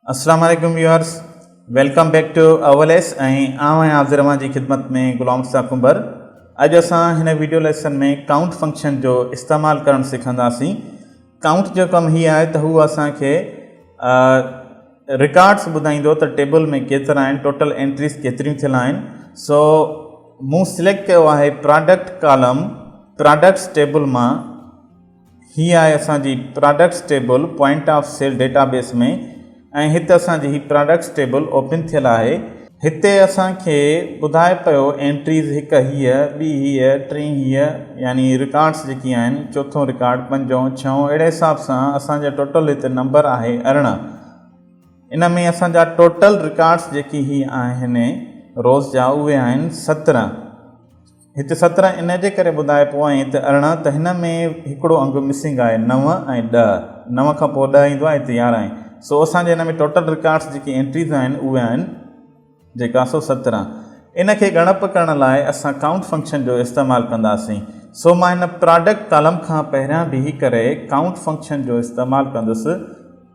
السلام عليڪم viewers welcome back to all S ۽ آئون آهيان عبد الرحمان جي خدمت ۾ غلام مصطفيٰ ڪنڀر اڄ اسان هن ويڊيو ليسن ۾ ڪائونٽ فنڪشن جو استعمال ڪرڻ سکنداسين ڪائونٽ جو ڪم هي آهي ته هو اسان کي رڪارڊس ٻڌائيندو ته ٽيبل ۾ ڪيترا آهن ٽوٽل انٽريز ڪيتريون ٿيل آهن سو مون سليڪٽ ڪيو آهي پراڊڪٽ ڪالم پراڊڪٽس ٽيبل مان هي آهي اسان جي products table point of sale database ۾ ۽ هت اسان جي هي پراڊڪٽس ٽيبل اوپن ٿيل آهي. هتي اسان کي ٻڌائي پيو اينٽريز هڪ هيء، ٻي هيء، ٽين هيء يعني رڪارڊس جيڪي آهن چوٿون رڪارڊ، پنجون، ڇهون اهڙي حساب سان اسان جا ٽوٽل هتي نمبر آهي ارڙهن. ان ۾ اسان جا ٽوٽل رڪارڊس جيڪي هي آهن روز جا اهي آهن سترهن. هت سترهن ان جي ڪري ٻڌائبو ۽ هت ارڙهن ته هن ۾ هڪڙو انگ مسنگ آهي نو ۽ ڏهه نو کان پوء ڏهه ايندو آهي هت يارهن سو اسان جي هن ۾ ٽوٽل رڪارڊس جيڪي انٽريز آهن اهي آهن جيڪا سو سترهن ان کي ڳڻپ ڪرڻ لاء اسان ڪائونٽ فنڪشن جو استعمال ڪنداسين سو مان هن پراڊڪٽ ڪالم کان پهريان بيهي ڪري ڪائونٽ فنڪشن جو استعمال ڪندس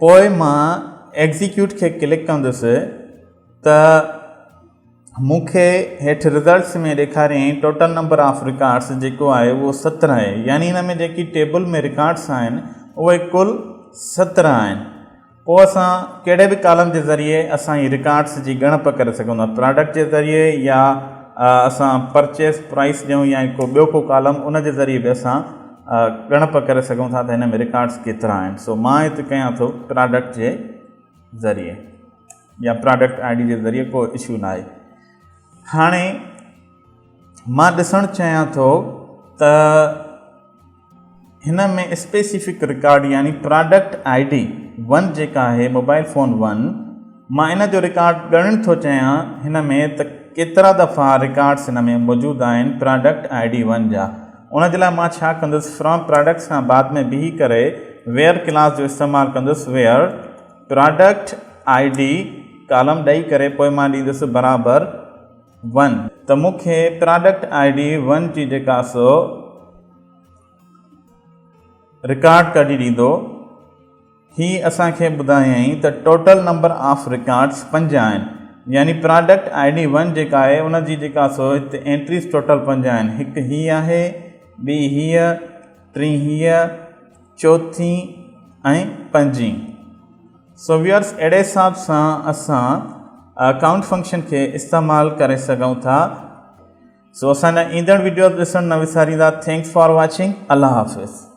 پوء مان ايگزيڪيوٽ کي ڪلڪ ڪندس ته مون کي هيٺ رزلٽس ۾ ڏيکاريائين ٽوٽل نمبر آف رڪارڊس جيڪو آهي اهو سترهن آهي يعني هن ۾ جيڪي ٽيبل ۾ رڪارڊس آهن اهي ڪل سترهن آهن پوء اسان ڪهڙي به ڪالم جي ذريعي اسان هي رڪارڊس جي ڳڻپ ڪري سگهون ٿا پراڊڪٽ جي ذريعي يا اسان پرچيز پرائس ڏيون يا ڪو ٻيو ڪو ڪالم ان جي ذريعي به اسان ڳڻپ ڪري سگهون ٿا ته هن ۾ رڪارڊس ڪيترا آهن سو مان هتي ڪيان ٿو پراڊڪٽ جي ذريعي يا پراڊڪٽ آئي ڊي جي ذريعي ڪو اشو نه آهي هاڻي مان ڏسڻ چاهيان ٿو ته هن ۾ اسپيسيفڪ رڪارڊ يعني پراڊڪٽ آئي ڊي ون جيڪا آهي موبائل فون ون مان ان جو رڪارڊ ڳڻڻ ٿو چهيان هن ۾ ته ڪيترا دفعا رڪارڊس هن ۾ موجود آهن پراڊڪٽ آئي ڊي ون جا ان جي لاء مان ڇا ڪندس فرام پراڊڪٽس کان بعد ۾ بيهي ڪري ويئر ڪلاس جو استعمال ڪندس where product I D column ڏئي ڪري پوء مان ڏيندس برابر ون ته مون کي پراڊڪٽ آئي ڊي ون جي جيڪا سو رڪارڊ ڪڍي ڏيندو هي اسان کي ٻڌايائين ته ٽوٽل نمبر آف رڪارڊس پنج آهن يعني پراڊڪٽ آئي ڊي ون جيڪا آهي ان جي جيڪا سو هتي انٽريز ٽوٽل پنج آهن هڪ هي آهي ٻي هيء ٽين هيء چوٿين ۽ پنجين سويئرس اهڙي حساب سان اسان اڪائونٽ فنڪشن کي استعمال ڪري سگهون ٿا سو اسان جا ايندڙ وڊيوز ڏسڻ نه وساريندا ٿينڪس فار واچنگ الله حافظ.